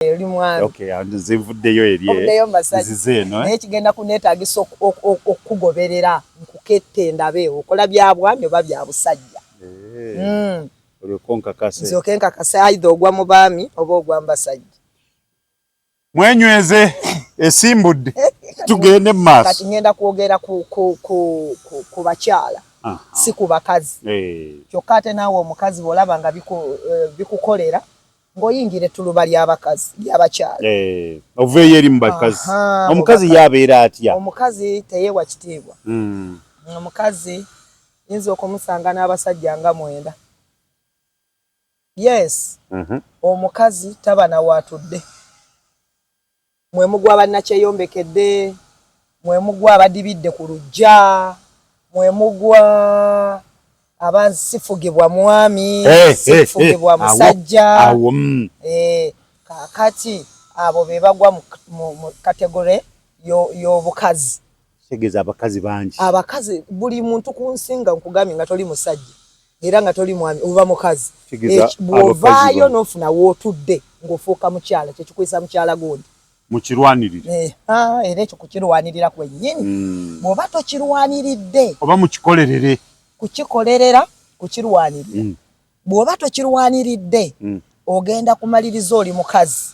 nzivudeyo eri mwami okay and nzivudeyo eri nzivudeyo masaji nzizeno eh? naye kigenda kunetagisa okukugoberera nkukette ndabe okola bya bwami oba bya busajja eh. mm. olyoko nkakase nzoke nkakase aidha ogwa mu baami oba ogwa mbasajja mwenyweze esimbudde tugende mu maaso kati ngenda kwogera ku, ku, ku, ku, ku bakyala si ku bakazi eh. kyokka ate naawe omukazi bw'olaba nga eh, bikukolera ng'oyingira ettuluba ly'abakazi ly'abakyala eh, oveeyo eri mu bakazi omukazi ye abeera atya omukazi teyeewa kitiibwa hmm. omukazi yinza okumusanga n'abasajja nga mwenda yes mhm. omukazi taba nawaatudde mwe mugwa bannakyeyombekedde, mwe mugwa abadibidde ku luggya, mwe mugwa aba sifugibwa mwami, eh, sifugibwa eh, eh, musajja. Mm. Kaakati abo be bagwa mu kategore y'obukazi. tegeza abakazi bangi abakazi buli muntu kunsinga nkugamye nga toli musajja era nga toli mwami oba mukazi bwovaayo nofuna wotudde ngaofuuka mukyala kyekikwisa mukyala gundi mukirwanirire eh, ah, era ekyo kukirwanirira kwenyini hmm. bwoba tokirwaniridde oba mukikolerere kukikolerera kukirwanirira hmm. bwoba tokirwaniridde hmm. ogenda kumaliriza oli mukazi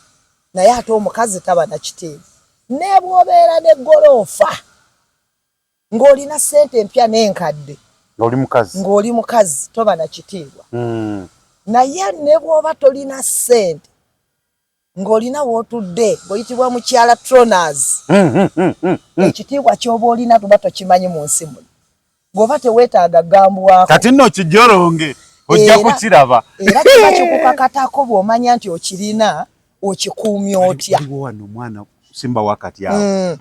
naye ate omukazi taba na kitiibwa nebwobeera ne goloofa ng'olina sente empya n'enkadde ng'oli mukazi ng'oli mukazi toba na kitiibwa hmm. naye ne bwoba tolina sente ng'olina w'otudde ng'oyitibwa mukyala tronas hmm, hmm, ekitiibwa ky'oba olina tuba tokimanyi mu nsi muno goba tewetaaga gambwako kati nno kijoronge ojja kukiraba era kiba kikukakatako bw'omanya nti okirina okikuumya otya wano omwana simba wakati awo mm.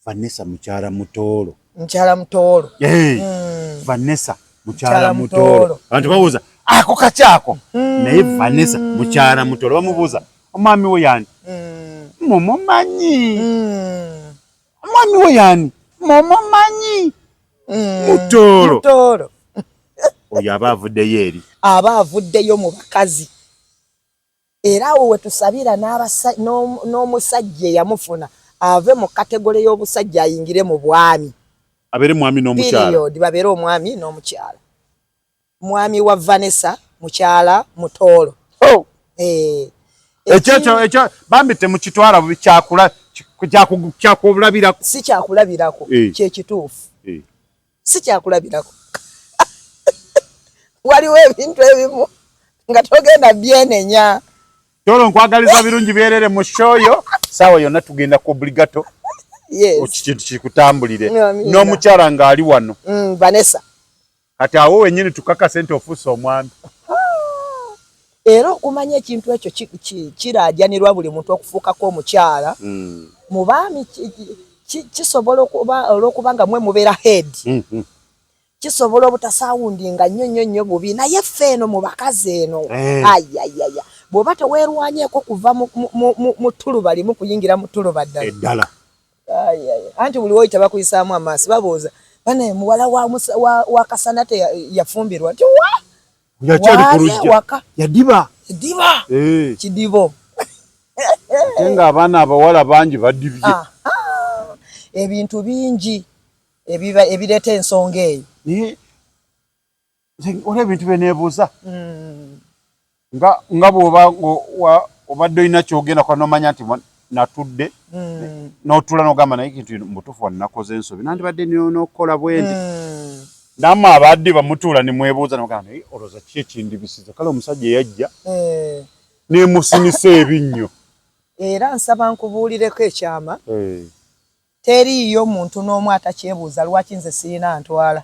vanessa mukyala mutoolo mukyala mutoolo hey. mm. vanessa mukyala mutoolo abantu babuuza ako kakyako mm. naye vanessa mukyala mutoolo bamubuuza omwami wo yani mm. mumumanyi mm. Mwami we yani? Momo manyi. Mm. Mutoro. Mutoro. Oyo aba avuddeyo eri. Aba avuddeyo mu bakazi. Era awo we tusabira n'omusajja eyamufuna ave mu kategole y'obusajja ayingire mu bwami. Abere mwami n'omukyala. Period. Babere omwami n'omukyala. mwami wa Vanessa mukyala mutoolo oh. eh, ekyekyo ekyo bambi temukitwala bubi kyakula kyakulabirako si kyakulabirako eh. kyekituufu eh. si kyakulabirako waliwo ebintu ebimu nga togenda byenenya tolo nkwagaliza birungi byerere mu shoyo sawa yonna tugenda ku obligato yes. okikintu kikutambulire n'omukyala ng'ali wano mm, vanessa kati awo wenyini tukakase nti ofuuse omwami era okumanya ekintu ekyo kiraajanirwa buli muntu okufuukako omukyala hmm. mu baami kisobola okuba olwokuba nga mwe mubeera head hmm, hmm. kisobola obutasaawundi nga nnyo nnyo nnyo bubi naye ffe eno mu bakazi eno eh. ayayaya bw'oba teweerwanyeeko kuva mu tuluba limu kuyingira mu tuluba ddala anti buli woyita bakuyisaamu amaaso babuuza banaye muwala wa kasana te yafumbirwa nti wa yakyali ku lujja yadiba yadiba eh. kidibo ate nga abaana abawala bangi badibye ah, ah. ebintu bingi ebireeta ensonga eyo Olaba ebintu bye neebuuza hmm. nga bw'oba obadde olina kyogenda kuba nomanya nti natudde hmm. n'otuula n'ogamba naye kintu mubutuufu wa nakoze ensobi nandibadde n'okukola bwendi hmm. namwe abadde bamutuula ne mwebuuza nogamba naye olowooza ki ekindibisiza kale omusajja eyajja eh. nemusinisa ebinnyo era nsaba nkubuulireko ekyama eh. teriiyo muntu n'omu atakyebuuza lwaki nze sirina ntwala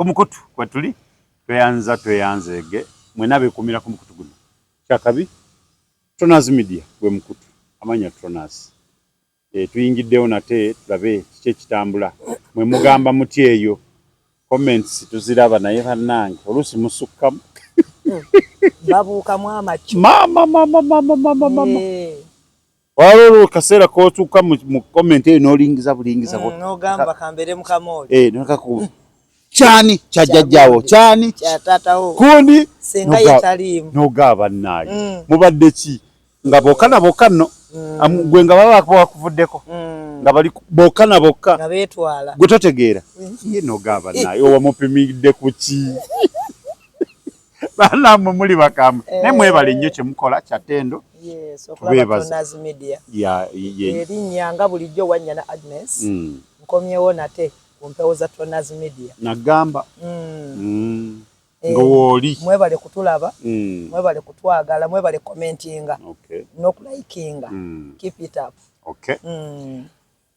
kumukutu kwetuli tweyanza tweyanzeege mwena abekumira kumukutu guno kyakabi Tronaz media gwe mukutu amanya Tronaz e, eh, tuyingiddewo nate tulabe kiki ekitambula mwe mugamba muti eyo comments tuziraba naye banange oluusi musukkamu babuukamu amaki mama mama mama mama mama eh. Wala olwo kaseera k'otuuka mu comment eyo n'olingiza bulingiza. Mm, n'ogamba kambeere mu kamooli. Eh, nakakuba. Mm. Kyani kya jjajjaawo kyani kya taatawo kundi senga ye taliimu. N'ogaaba naayo. Mm. Mubadde ki nga bokka na bokka nno gwe nga baba bakuvuddeko nga bali bokka na bokka nga beetwala gwe totegeera ye n'ogaaba naayo owamupimidde ku ki banamwe muli bakambwe eh. naye mwebale nnyo kyemukola kyatendo erinnya nga bulijjo wanyana agnes mm. nkomyewo nate ku mpewo za tonas media nagamba mm. Mm. Eh, ngowooli mwebale kutulaba mwebale kutwagala mwebale commentinga nokulayikinga keep it up okay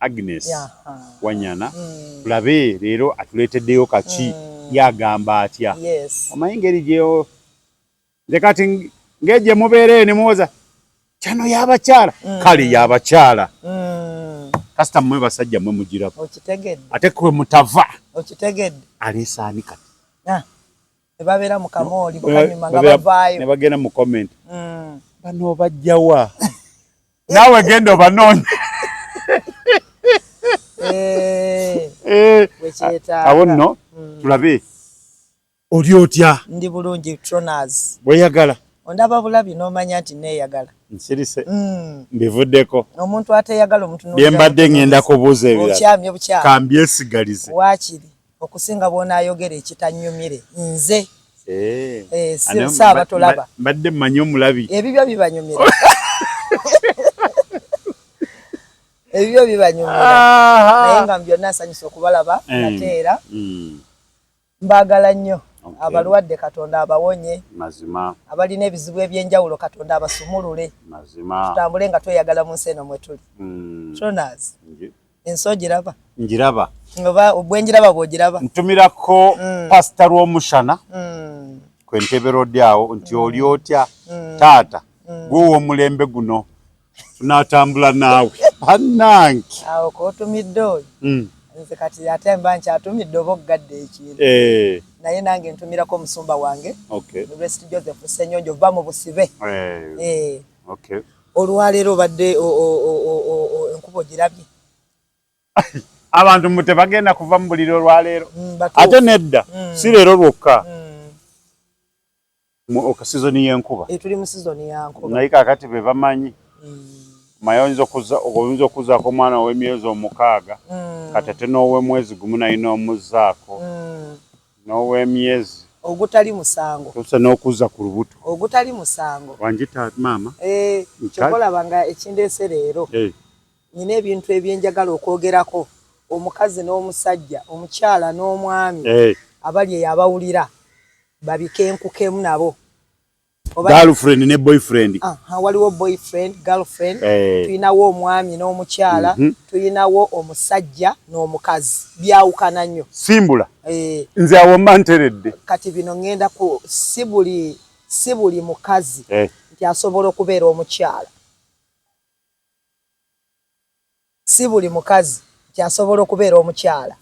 Agnes Wanyana mm. tulabe leero atuleeteddeyo kaki mm. yagamba atya omanyi ngeri gyeyo nze kati ngegye mubeereyo ne muwoza kyano yabakyala mm. kale yabakyala kasita mmwe basajja mwe mugirako ate kwe mutava aleesaani kati ah. nebabeera mu kamooli bukanyuma nga bavaayo nebagenda mu comment mm. bano bajjawa naawe genda obanoonya eh, eh, awo nno mm. tulabe oli otya ndi bulungi troners bweyagala ondaba bulabi n'omanya nti neeyagala nsirise mm. mbivuddeko omuntu ateyagala omuntu byembadde ngenda kubuuza ebirala okyamye bukyamu kambyesigalize waakiri okusinga bwonayogera ekitanyumire nze eh, eh, saaba tolaba mbadde mmanyi omulabi ebibyo bibanyumira ebibyo bibanyumira naye nga byonna nsanyusa okubalaba eh. nate era hmm. mbagala nnyo abalwadde katonda abawonye mazima abalina ebizibu ebyenjawulo katonda abasumulule mazima tutambule nga tweyagala mu nsi eno mwetuli hmm. ensi ogiraba ngiraba oba bwengiraba bwogiraba ntumirako mm. pasita lwomushana mm. kwentebera odi awo nti mm. oli otya mm. taata mm. gwowa omulembe guno tunatambula naawe banange awo kotumidde oyo mm. nze kati ate mba nkyatumidde oba okugadde ekintu eh. naye nange ntumirako omusumba wange okay. rest joseph senyonjo va mu busibe eh. Eh. okay. Olwaleero obadde enkuba ogirabye? Abantu mbu tebagenda kuva mu buliro olwaleero mm, ate nedda mm. si leero lwokka mm. okasizoni y'enkuba eh, tuli mu sizoni ya nkuba naye kakati be bamanyi maye oyinza okuzaako omwana ow'emyezi omukaaga kati ate n'ow'omwezi gumu naye n'omuzzaako n'ow'emyezi. Ogutali musango. Otuuse n'okuzza ku lubuto. Ogutali musango. Wanjita maama. Eeh, kyova olaba nga ekindeese leero. Eeh. Nina ebintu ebyenjagala okwogerako omukazi n'omusajja, omukyala n'omwami. Eeh. Abali eyo abawulira babikenkukemu nabo. girlfriend ne boyfriend aha waliwo boyfriend girlfriend eh. tulinawo omwami n'omukyala mhm. tulinawo omusajja n'omukazi byawukana nnyo simbula eh. nze awo mba nteredde kati bino ŋŋenda ku si buli si buli mukazi eh. nti asobola okubeera omukyala Si buli mukazi nti asobola okubeera omukyala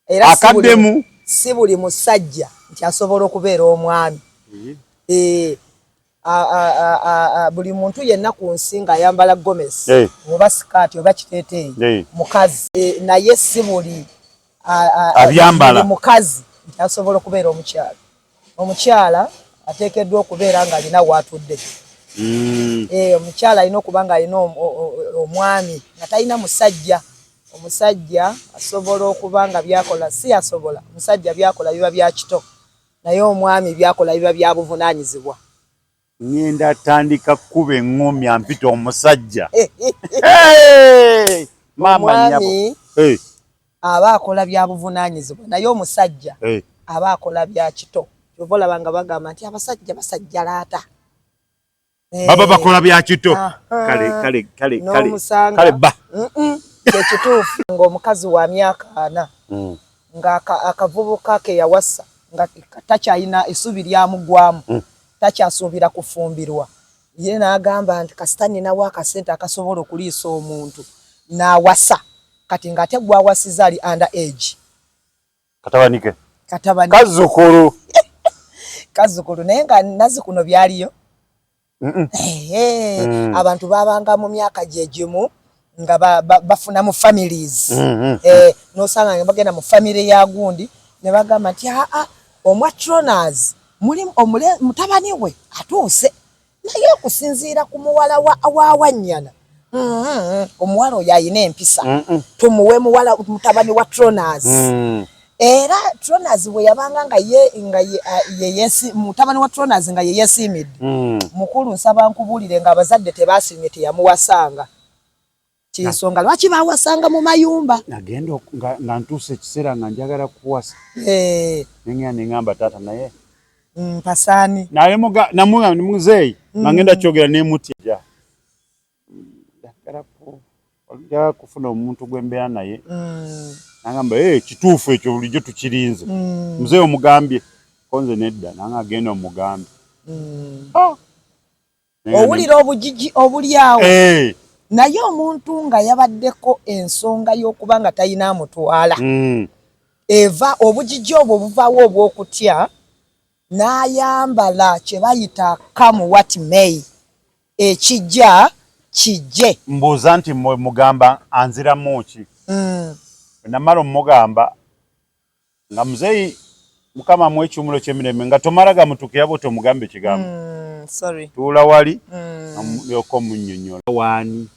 era si buli musajja nti asobola okubeera omwami. Eh, buli muntu yenna ku nsi ng'ayambala gomesi oba sikaati oba kiteeteeyi mukazi, eh, naye si buli abyambala mukazi asobola okubeera omukyala omukyala ateekeddwa okubeera nga alina waatudde mm. eh, omukyala alina okuba nga alina omwami nga talina musajja omusajja asobola okuba nga byakola si asobola omusajja byakola biba byakito naye omwami byakola biba byabuvunaanyizibwa Ngenda tandika kukuba eŋŋomya mpita omusajja. Omwami aba akola bya buvunaanyizibwa naye omusajja aba akola bya kito. Kyova olaba nga bagamba nti abasajja basajja laata. Eh. baba bakola bya kito kale ba kyekituufu ngaomukazi wa myaka ana mm. nga akavubuka ke yawasa nga takyalina esuubi lyamugwamu mm. takyasuubira kufumbirwa ye n'agamba nti kasita nninawo akasente akasobola okuliisa omuntu n'awasa kati ng'ate gw'awasiza ali under age katabanike katabanike kazukulu kazukulu naye nga nazi kuno byaliyo mm. abantu babanga mu myaka gye gimu nga bafuna mu families mm, mm, mm. Eh, nosanga nga bagenda mu family ya gundi ne bagamba nti aa ah, ah, omwa troners muli omule mutabani we atuuse naye okusinziira ku muwala wawanyana omuwala oyo alina empisa tumuwe muwala mutabani wa troners era Tronas bwe yabanga nga ye nga ye uh, yesi mutabani wa Tronas nga ye yesiimidde mm. mukulu nsaba nkubuulire nga abazadde tebaasiimye teyamuwasanga kyensonga lwaki bawasanga mu mayumba nagenda nga ntuusa ekiseera nga njagala kuwasa eh. nengea nengamba taata naye mpasaani mm, naye muzeeyi mm. nga ngenda kyogera nemutya njagala ku njagala kufuna omuntu gwe mbeera naye mm. nangamba hey, eh, kituufu ekyo bulijjo tukirinze mm. mzee omugambye konze nedda nange agenda omugambye mm. ah. owulira obujiji obuli awo hey. Eh. naye omuntu nga yabaddeko ensonga y'okuba nga talina amutwala mm. eva obujiji obwo buvawo obw'okutya n'ayambala kye bayita kamu wat may Ekijja kijje. Mbuuza nti mwe mugamba anziramu ki? Mm. Namala omugamba nga muzeeyi mukama mu ekiwumulo kyemirembe nga tomala gamutukira bwe tomugambe kigambo mm, sorry tuula wali mm. yoko munyonyola wani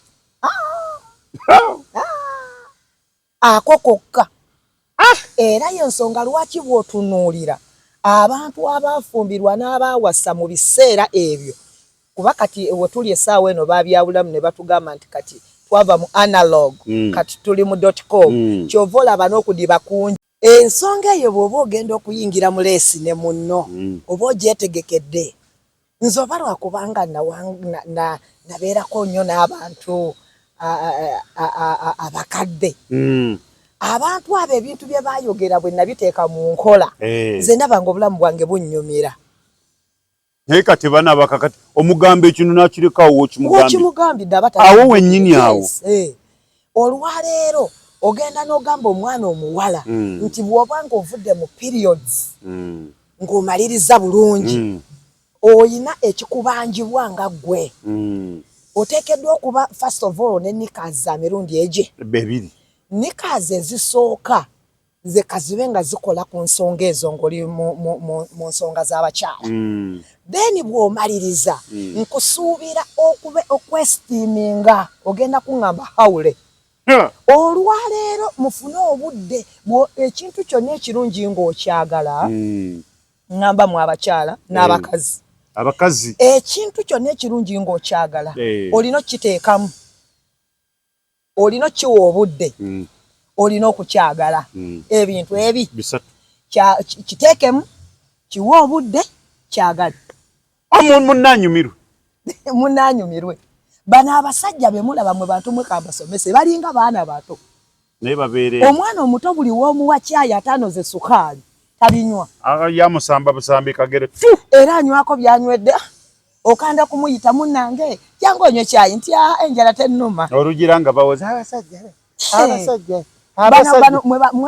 ah! Ako kokka. Ah! Era y'ensonga lwaki bw'otunuulira abantu abaafumbirwa n'abaawasa mu biseera ebyo, kuba kati we tuli essaawa eno baabyawulamu ne batugamba nti kati twava mu analog kati tuli mu dot com, ky'ova olaba n'okudiba kungi. Ensonga eyo bw'oba ogenda okuyingira mu leesi ne munno oba ogyetegekedde nze oba lwakubanga nabeerako nnyo n'abantu abakadde hmm. abantu abo ebintu bye bayogera bwe nabiteeka mu nkola eh. nze ndaba nga obulamu bwange bunnyumira naye kati bana bakakati omugambo ekino nakirekawo wokimugambidde awo wennyini awo eh. olwaleero ogenda n'ogamba omwana omuwala mm. nti bwoba nga ovudde mu periods mm. ng'omaliriza bulungi mm. oyina ekikubanjibwa nga ggwe mm. oteekeddwa okuba first of all ne nikas za mirundi egye ebiri nikas ezisooka nze kazibe nga zikola ku nsonga ezo ngoli mu nsonga z'abakyala mm. then bw'omaliriza mm. nkusuubira okube okwesitiiminga ogenda kuŋŋamba hawule olwaleero mufune obudde ekintu kyonna ekirungi ng'okyagala mm. ŋŋamba mu abakyala n'abakazi abakazi ekintu kyonna ekirungi ng'okyagala eh. olina okukiteekamu olina okiwa obudde mm. olina okukyagala mm. ebintu ebi kiteekemu kiwa obudde kyagale munanyumirwe munanyumirwe bano abasajja bemulaba mwe bantu mwe kabasomese balinga baana bato naye babeere omwana omuto buli womuwa kyayi ataano ze sukaali tabinywa ah, yamusamba busambi kagere era anywako byanywedde okanda kumuyita munange jangu onywe kyayi nti aa ah, enjala tenuma olugira nga bawoza abasajja be abasajja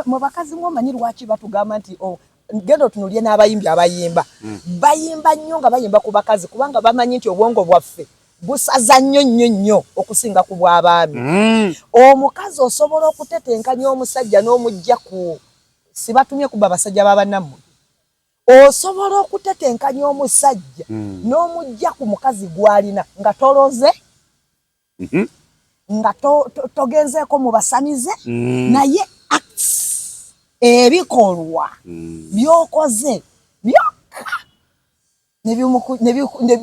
mwe bakazi mwe omanyi lwaki batugamba nti oh, genda otunulye n'abayimbi abayimba hmm. bayimba nnyo nga bayimba ku bakazi kubanga bamanyi nti obwongo bwaffe busaza nnyo nnyo nnyo okusinga ku bw'abaami hmm. omukazi osobola okutetenkanya omusajja n'omujja ku sibatumye kuba basajja babannammwe Osobola okutetenkanya omusajja mm. n'omujja ku mukazi gw'alina nga toloze mm -hmm. nga togenzeeko to, to mu basamize mm. naye acts ebikolwa mm. byokoze byokka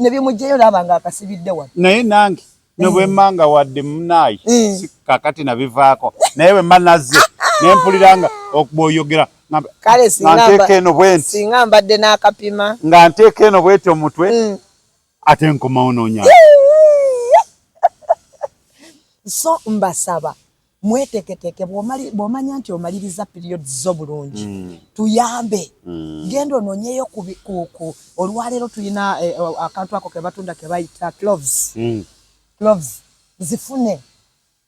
ne bimugyeyo naaba nga akasibidde wano naye nange no bwe mmanga wadde munaayi eh. kakati nabivaako naye bwe mba nazze ne mpulira nga okubwoyogera nganteeka eno bwenti nga mbadde n'akapima nga nteeka eno bweti omutwe mm. ate nkomawo nonya so mbasaba mweteketeke bwomanya nti omaliriza period zo bulungi mm. tuyambe mm. genda ononyeyo kuku olwaleero tulina eh, eh, akantu ako kebatunda kebayita cloves mm. cloves zifune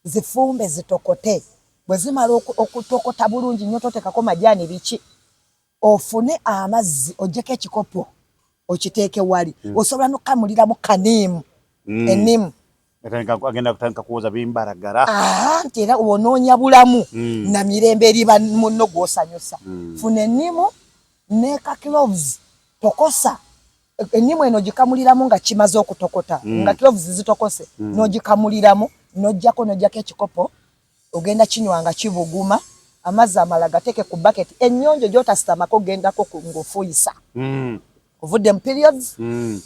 zifumbe zitokote bwezimala okutokota bulungi nyo totekako majani biki ofune amazzi ojjeko ekikopo okiteeke wali mm. osobola nokamulira mu kaniimu mm. enimu agenda kutandika kuwoza bimbaragara nti era onoonya bulamu mm. na mirembe eri munno gwosanyusa mm. funa enimu neka cloves tokosa enimu eno gikamuliramu nga kimaze okutokota mm. nga cloves zitokose mm. nogikamuliramu nojjako nojjako ekikopo Ogenda kinywa nga kibuguma. Amazzi amalala gateeke ku baketi ennyonjo gy'otasitamako gendako ng'ofuuyisa. Ovudde mu periods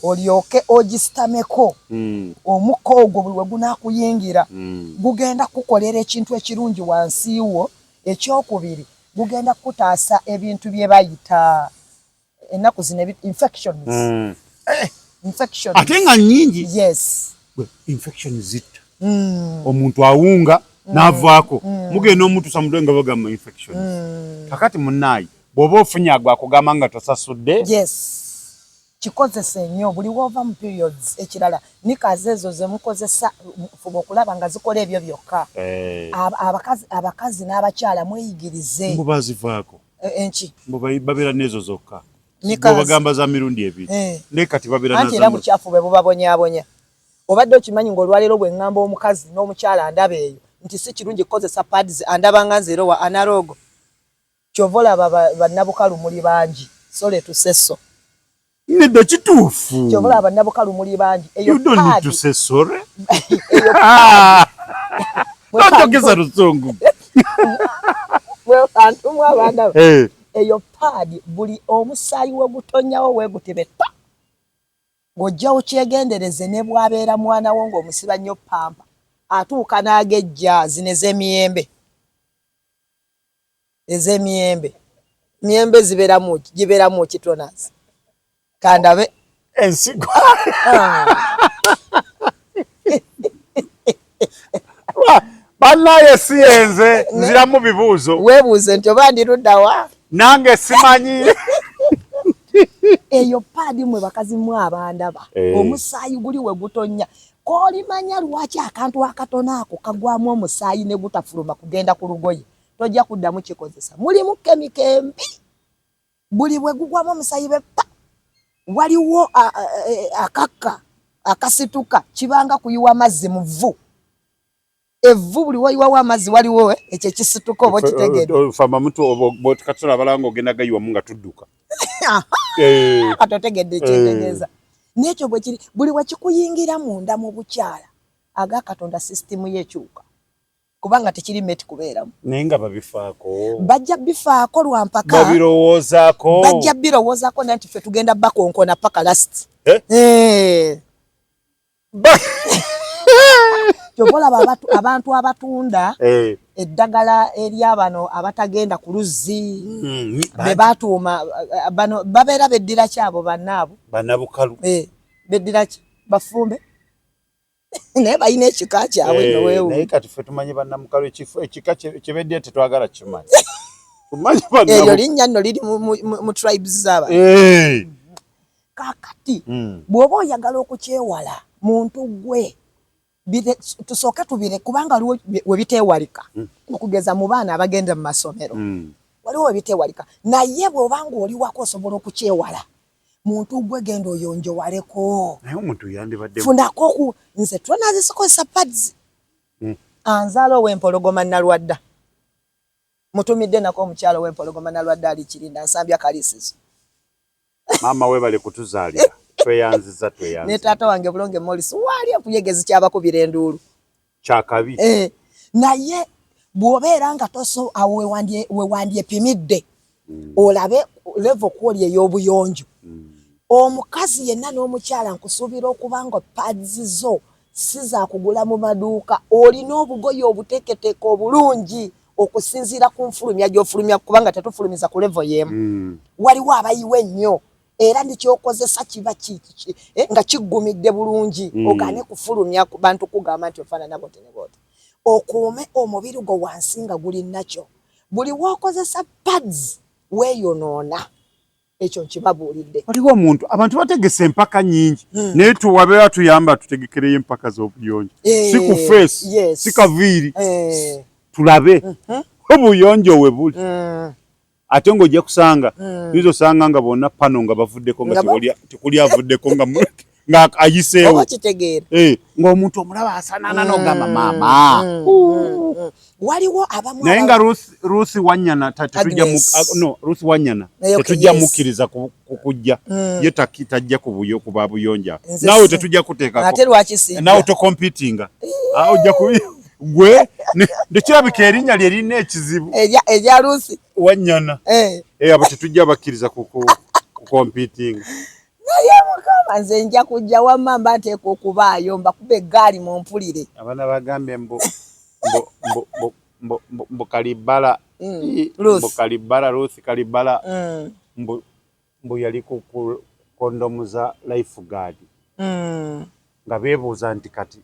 olyoke ogisitameko. Omukka ogwo buli we gunaakuyingira gugenda kukukolera ekintu ekirungi wansi wo. Ekyokubiri gugenda kukutaasa ebintu bye bayita. Enaku zino infections. Mm. Eh, infections. Ate nga nyingi. Yes. Gwe infections zitta. Mm. Omuntu awunga mm. navako. Mm. Muge no mtu samudwe nga baga ma infections. Mm. Kakati munayi. Bobo funya agwa kugama nga tosasude. Yes. Kikozesa enyo buli wova mu periods ekirala nikaze ezo ze mukozesa fubo kulaba nga zikola ebyo byokka. Eh. Abakazi abakazi n'abakyala mweyigirize. Mbubazi vako. eh, enki mbu babera nezo zokka bagamba za mirundi ebiri eh. ne kati babera nazo era buchafu bwe bubabonyabonya obadde okimanyi ng'olwaleero bwe ŋŋamba omukazi n'omukyala andaba eyo nti si kirungi kukozesa pads andaba nga nzeero wa analogo kyova olaba bannabukalu muli bangi sole tuseso Nedda kituufu. Kyova olaba bannabukalu muli bangi. You don't need to say sorry. Tojogeza luzungu. Wekantu mwa abaana. Eh. Eyo paadi buli omusaayi wegutonyawo wegutebe pa. Ng'ojja okyegendereze ne bw'abeera mwana wo ng'omusiba nnyo pampa atuuka n'agejja zino ez'emiyembe. Eze miyembe. Miyembe zibera mu gibera mu kitonas. Kandabe ensigo. Banaye si enze nzira mu bibuzo. Webuze nti obandi rudawa. Nange simanyi. Eyo padi mwe bakazi mwa abandaba. Hey. Eh. Omusayi guli we gutonya. Koli manya lwachi akantu akatona ako kagwamu omusayi ne gutafuluma kugenda ku lugoye. tojja kuddamu kikozesa mulimu kemiko embi buli bwe gugwamu omusayi be pa waliwo e, akakka akasituka kibanga kuyiwa mazzi mu vvu evvu buli wayiwawo amazzi waliwo eh, ekyo ekisituka oba okitegeddekatula abalanga ogenda gayiwamu nga tudduka eh. kati otegedde ekyetegeeza eh. nekyo bwekiri buli wekikuyingira munda mu bukyala aga katonda sisitimu yekyuka kubanga tekiri meti kubeeramu naye nga babifaako bajja bifaako lwampaka babirowoozaako bajja birowoozaako nanti ffe tugenda bakonkona paka last eh? Eh. kyovolaba abantu abatunda eh. eddagala eryabano abatagenda ku luzzi hmm, bebatuuma bano babeera beddira ki abo banaabo banabukalu beddira ki bafumbe naye balina ekika kyabwe eh, nowewu naye kati ffe tumanyi bannamukalu ekifo ekika kyebeddira tetwagala kimanyi eryo linnya nno liri mu tribes zaba eh. kakati hmm. bw'oba oyagala okukyewala muntu gwe tusooke tubire kubanga waliwo webiteewalika hmm. okugeza mu baana abagenda mu masomero hmm. waliwo webiteewalika naye bw'oba nga oli wako osobola okukyewala muntu gwe genda oyonjowaleko naye omuntu yandibadde funako ku nze tona zisikozesa pads mm. anzala owempologoma nalwadda mutumidde nako omukyalo owempologoma nalwadda ali kirinda nsambya kalisizo maama webale kutuzaalira tweyanziza tweyanziza ne taata wange bulonge molis wali okuyegezi kyabakubira enduulu kyakabi eh, naye bwobeera nga toso awo wewandyepimidde mm. olabe levo kwoli ey'obuyonjo mm. omukazi yenna n'omukyala nkusuubira okuba nga pads zo si zakugula mu maduuka olina obugoyi obuteeketeeka obulungi okusinziira ku nfulumya gy'ofulumya kubanga tetufulumiza ku levo y'emu mm. waliwo abayiwa ennyo era nekyokozesa kiba eh, nga kiggumidde bulungi mm. ogane kufulumya bantu kugamba nti ofaanana boti ne boti okuume omubiri gwo wansi nga guli nakyo buli wokozesa pads weyonoona ekyo nkibabuulidde waliwo omuntu abantu bategese empaka nyingi mm. naye tuwabeera tuyamba tutegekereyo empaka z'obuyonjo eh, si ku feesi yes. si kaviiri eh. tulabe mm -hmm. obuyonjo we buli mm. ate nga ojja kusanga hmm. yinza osanga nga bonna pano nga bavuddeko nga tekuli avuddeko nga ayiseewo eh, ng'omuntu omulaba asanana hmm. nogamba maama hmm. waliwo abamu naye nga ruth wanyana ruth wanyana tetujja mukkiriza kukujja ye tajja kubuyo kuba buyonja nawe tetujja kuteekako nawe tokompitinga eh. ah, ojja kubi gwe ndikirabika erinnya lye lirina ekizibu erya lusi wanyana eh. eh, abo tetujja bakkiriza kukompitinga naye mukama nze nja kujja wamma mba nteeka okubaayo mbakuba eggaali mu mpulire abaana bagambye mbu mbu kalibbala mm, mbu kalibbala ruth kalibbala mm. mbu yali ku kondomu za life guard mm. nga beebuuza nti kati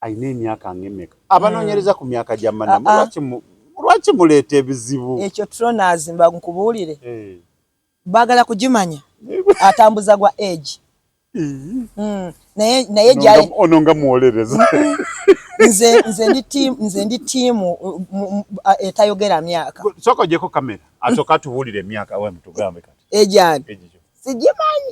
alina emyaka ngemeka abanonyereza ku myaka gya manamu ah, ah. lwaki lwaki muleeta ebizibu ekyo tronazimba nkubuulire eh. bagala kugimanya atambuza gwa age hmm. naye ono nga muwolereza nze nze ndi tiimu nze ndi tiimu etayogera myaka soka ojeko kamera asoka tubuulire emyaka wemutugambe kati ejani sigimanyi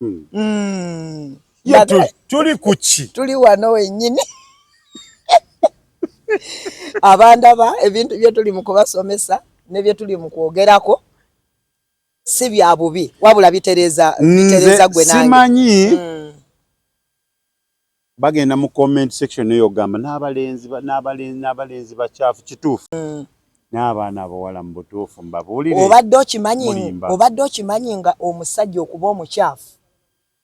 Hmm. Hmm. tuli kuki tuli wano wenyini abandaba ebintu byetuli mu kubasomesa nebyetuli mu kwogerako si bya bubi wabula bitereza bitereza gwe nange simanyi mm. Bagenda mu comment section eyo ogamba nabalenzi nabalenzi nabalenzi bakyafu kituufu nabaana abawala mubutuufu mbabulire obadde okimanyi obadde okimanyi nga omusajja okuba omukyafu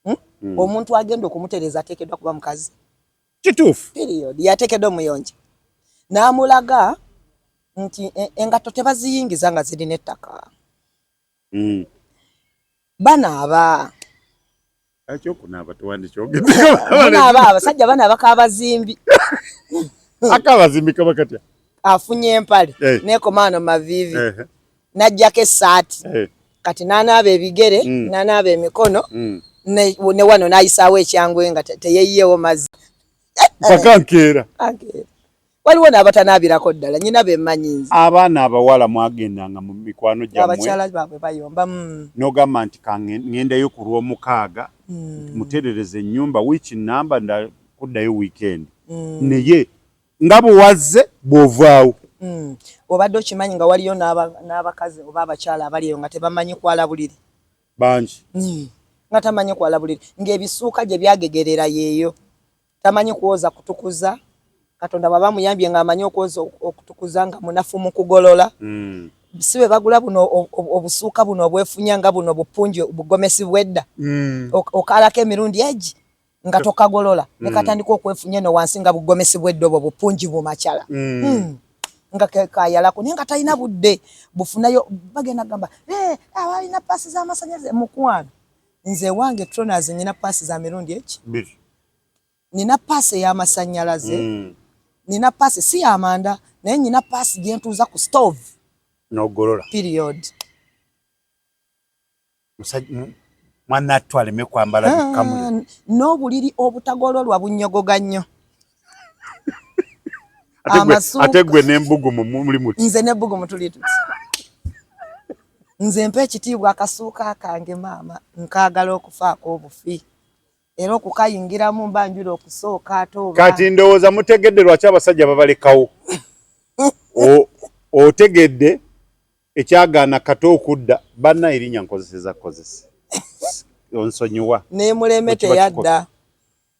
hmm? Hmm. omuntu agenda okumutereza atekedwa kuba mukazi kituufu period yatekedwa omuyonja namulaga nti e, engatto tebaziyingiza nga zirina ettaka mm. banaaba banaaba abasajja banaaba kabazimbi akabazimbi kaba katya afunye empale hey. Eh. nekomaano mavivi hey. Eh. najjako essaati hey. Eh. kati nanaaba ebigere mm. nanaaba emikono mm. ne, ne wano nayisaawo ekyangwe nga teyeyiyewo mazzi paka nkeera waliwo n'abatanaabirako ddala nyina be mmanyi nze abaana abawala mwagendanga mu mikwano gyabakyala baabwe bayomba mm. n'ogamba nti kangendayo ku lw'omukaaga mm. muterereza ennyumba wiiki nnamba nda kuddayo wiikendi mm. naye nga bwe wazze bw'ovaawo obadde okimanyi nga waliyo n'abakazi oba abakyala abali eyo nga tebamanyi kwala buliri bangi nga tamanyi kwala buliri ng'ebisuuka gye byagegerera yeeyo tamanyi kuwoza kutukuza katonda bwaba muyambye nga amanyi okwoza okutukuza nga munafu mu kugolola mm. si bwe bagula buno obusuuka buno obwefunya nga buno bupunji bugomesi bwedda mm. okalako emirundi egi nga tokagolola mm. nekatandika okwefunya eno wansi nga bugomesi bwedda obwo bupunji bumakyala mm. mm. nga kayalako naye nga talina budde bufunayo bagenda gamba hey, eh, awalina pasi z'amasanyalaze mukwano Nze ewange Troners nina paasi za mirundi eki? Biri. Nina paasi ey'amasannyalaze. Mm. Nina paasi si ya manda naye nina paasi gye ntuuza ku stove. N'ogolola. Period. Musajja mwana attu aleme kwambala ah, bikamu. N'obuliri obutagololwa bunyogoga nnyo. ate gwe nembugumu muli muti nze nebugumu tuli tuti nze mpa ekitiibwa akasuuka kange maama nkaagala okufaako obufi era okukayingiramu mba njula okusooka ate oba kati ndowooza mutegedde lwaki abasajja babalekawo otegedde ekyagaana kata okudda banna erinya nkozeseza kozesa onsonyiwa nemuleme teyadda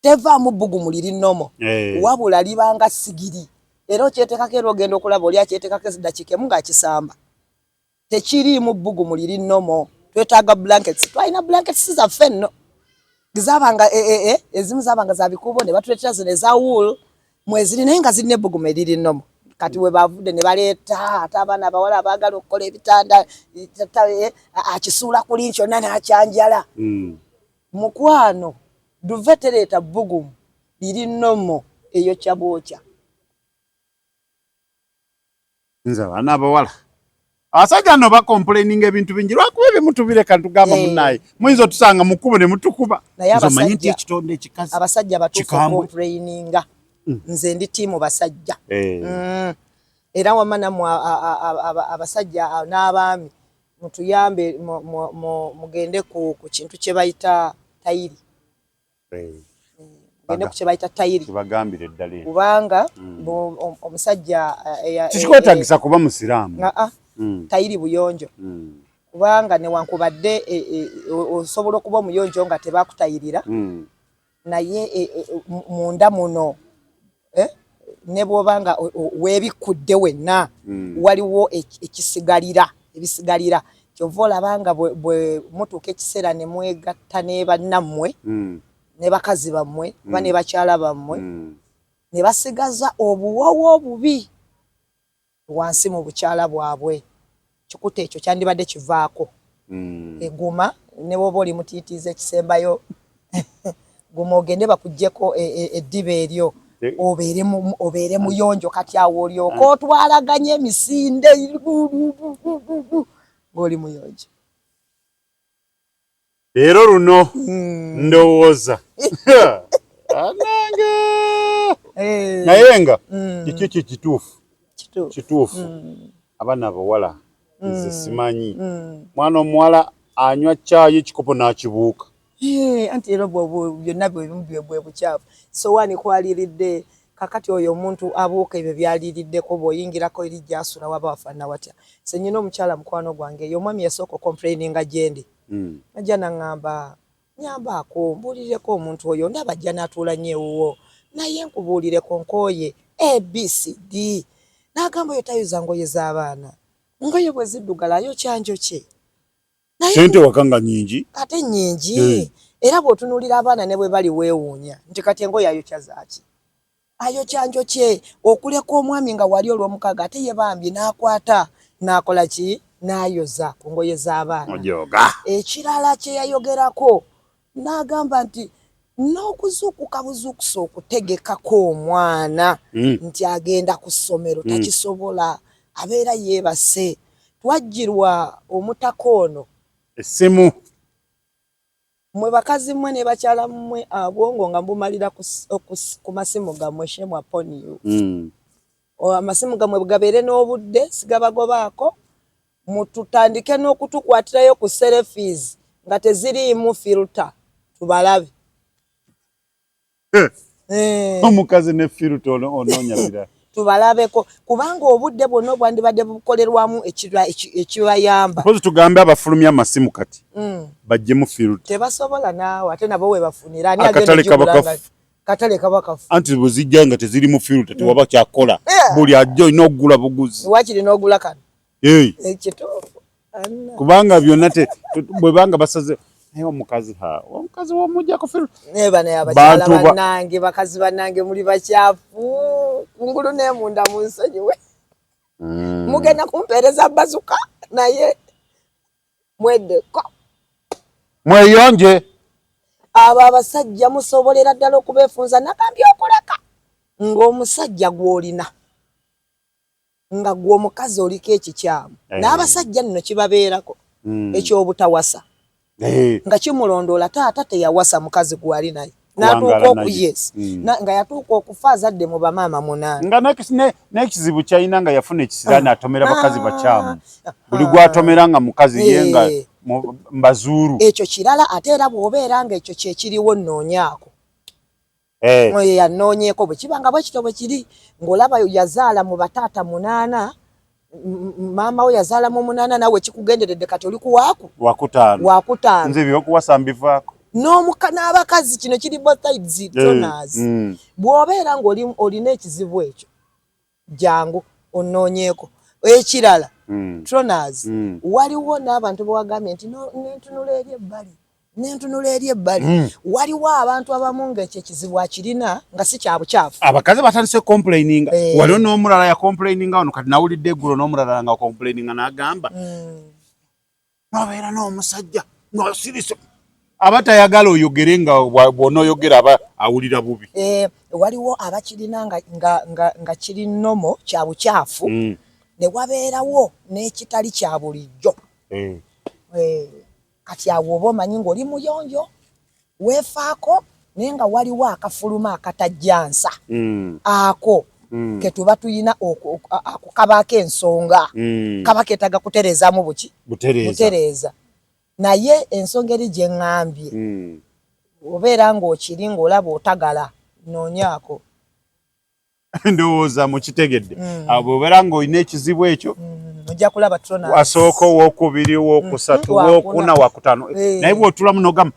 tevaamu bbugumu liri nomo eh. wabula libanga sigiri era okyetekako era ogenda okulaba oli akyetekako ezidakiika emu ngaakisamba tekiriimu bbugumu liri nomo twetaaga blankets twalina blankets zaffe nno zabanga eh, eh, eh, ezimu zabanga zabikuubo ne batuleetera zino eza wool mweziri naye nga zirina ebbugumu eriri nomo kati webavudde ne baleeta ate abaana abawala abaagala okukola ebitanda akisuula kuli kyonna nakyanjala hmm. Mukwano duve tereta bbugumu liri normal eyokya bwokya. Nze abaana abawala abasajja no bakompuleninga ebintu bingi lwakuba ebimu tubireka ntugamba eh. munaye muyinza otusanga mu kkubo ne mutukuba omanyi nti ekitonde ekikazi abasajja batukompuleninga mm. nze ndi tiimu basajja eh. mm. era wama namwe abasajja n'abaami Mutuyambe mugende ku kintu kye bayita tayiri gende ku kyebayita tayiri kibagambire ddala eno kubanga mm. omusajja eh, eh, kikwetagisa eh, kuba musiraamu ah, mm. tayiri buyonjo mm. kubanga newankubadde osobola okuba omuyonjo nga tebakutayirira Naye munda muno eh, ne bwoba nga webikkudde wenna mm. waliwo ekisigalira ebisigalira kyova olaba nga bwe mutuuka ekiseera ne mwegatta ne bannammwe mm. ne bakazi bammwe mm. ba ne bakyala bammwe mm. ne basigaza obuwoowo obubi wansi mu bukyala bwabwe kikuta ekyo kyandibadde kivaako eguma ne bwoba oli mutiitiizi ekisembayo guma ogende bakujjeko e, e, eddiba eryo eh. obeere muyonjo kati awo olyoka ah. otwalaganya emisinde ng'oli muyonjo Leero luno hmm. ndowooza anange eh. naye nga hmm. kiki kye kituufu kituufu hmm. abaana abawala nze simanyi mwana omuwala anywa caayi ekikopo n'akibuuka eh, anti era byonna bwe bwe bucaafu sowaani kwaliridde Kakati oyo omuntu abuuka ebyo byaliliddeko bwoyingilako eri gyasula waba wafanana watya nze nyina omukyala mukwano gwange yomwami yasooka okomplaininga gyendi najja nangamba nyambaako mbuulilileko omuntu oyo ndaba ajja natuula nyo ewuwo naye nkubuulileko nkooye ABCD nagamba oyo tayuza ngoye zabaana ngoye bweziddugala ayokya njokye. sente wakanga nyingi ate nyingi hey. era bwotunulira abaana ne bwe bali weewuunya nti kati engo yayokya zaaki ayokya njokye okuleka omwami nga wali olw'omukaaga ate ye bambi n'akwata n'akola ki n'ayoza ku ngoye z'abaana ekirala kye yayogerako n'agamba nti n'okuzuukuka buzuukusa okutegekako omwana hmm. nti agenda ku ssomero hmm. takisobola abeera yeebase twajjirwa omutaka ono essimu mwe bakazi mmwe ne bakyala mmwe abwongo nga mbumalira ku masimu gammwe shemu aponiyo hmm. amasimu gammwe bwegabeere n'obudde sigabagobaako mututandike nokutukwatirayo ku selfies nga teziriimu filter tubalabe eh. omukazi ne filter ononya birala tubalabeko kubanga obudde bwonna obwandibadde bukolerwamu ekibayamba mpozi tugambe abafulumya amasimu kati mm. bajjemu field tebasobola naawe ate nabo webafunira ani akatale kabakafu katale kabakafu anti bwezijja nga teziri mu field tewaba mm. kyakola eh. buli ajja olina okugula buguzi wakiri n'ogula kano kubanga byonna bwebanga basaze naye omukazi ha omukazi womujja kufiru naye bana yabakyala banange bakazi banange muli bakyafu kungulu nemunda munsonyiwe mm. mugenda kumpeereza bazuka naye mwedeko mweyonje abo abasajja musobolera ddala okubefunza nagambye okuleka ng'omusajja gw'olina nga gwe omukazi oliko ekikyamu hey. Eh. n'abasajja nno kibabeerako mm. eky'obutawasa hey. Eh. nga kimulondoola taata teyawasa mukazi gwali naye hmm. nga yatuuka okufa azadde mu bamaama munaana n'ekizibu kyalina nga yafuna ekisiraani ah. atomera bakazi ah. bakyamu buli gwatomera nga mukazi ye eh. nga mbazuuru ekyo kirala ate era bw'obeera nga ekyo kyekiriwo nnoonyaako eh. oyo yanoonyeeko bwe kiba nga bwe kityo bwe kiri ng'olaba yazaala mu bataata munaana maama we yazaala mu munaana naawe kikugenderedde kati oli kuwaaku wakutaano wakutaano nze byokuwasa mbivaako n'omuka n'abakazi kino kiri both sides eh, donors mm. bw'obeera ng'olina ekizibu ekyo jangu ononyeeko ekirala mm. troners mm. waliwo n'abantu bewagambye nti nentunula eri ebbali nentunula eri ebbali mm. waliwo abantu abamu nga ekyo ekizibu akirina nga si kyabukyafu abakazi batandise complaininga eh. waliwo n'omulala ya complaininga wano kati nawulidde eggulo n'omulala nga complaininga n'agamba mm. nobeera n'omusajja ng'osirise aba tayagala oyogere nga bw'onooyogera aba awulira bubi eh, waliwo abakirina nga kiri nomo kya bukyafu mm. ne wabeerawo n'ekitali kya bulijjo eh. Eh, kati awo oba omanyi ng'oli muyonjo weefaako naye nga waliwo akafuluma akatajja nsa mm. ako mm. ketuba tulina ako kabaako ensonga mm. kaba keetaga kutereezamu buki butereeza naye ensonga eri gye ŋŋambye mm. obeera ng'okiri ng'olaba otagala noonyaako ndowooza mukitegedde mm. ah, bwobera ngaolina ekizibu ekyo mm, wasooka owokubiri wokusatu mm, wokuna wakutano eh. naye bwotulamu nogamba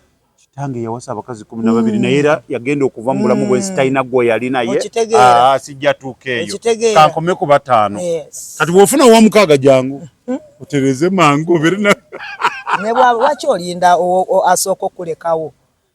tange yawasa abakazi kumi na babiri naye era yagenda okuva mu bulamu bwensi talina gwe yali naye ah, sijja tuuka eyo kankome ku bataano kati bwofuna owamukaaga jangu hmm? otereze mangu obere na nebwaba waki olinda asooka okulekawo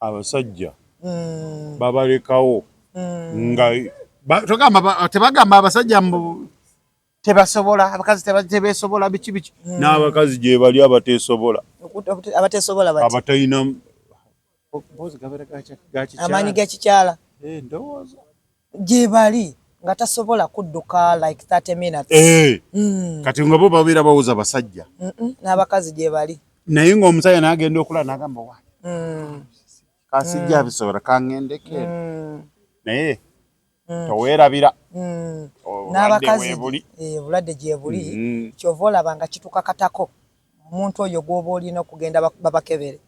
Abasajja babalekawo nga togamba tebagamba abasajja mbu tebasobola abakazi tebesobola biki biki hmm. n'abakazi gyebali abatesobola abatesobola abatalina amaanyi gakikyala eh, ndowooza gyebali nga tasobola kudduka like 30 minutes eh mm. kati ngabo babira bawuza basajja mm -mm. n'abakazi gyebali naye ng'omusajja n'agenda okulala n'agamba wa mm. kasijja mm. bisobola kang'endeke mm. naye mm. toweerabira mm. n'abakazi eh, obulwadde gyebuli mm -hmm. kyova olaba nga kituka katako omuntu oyo gwoba olina okugenda babakebere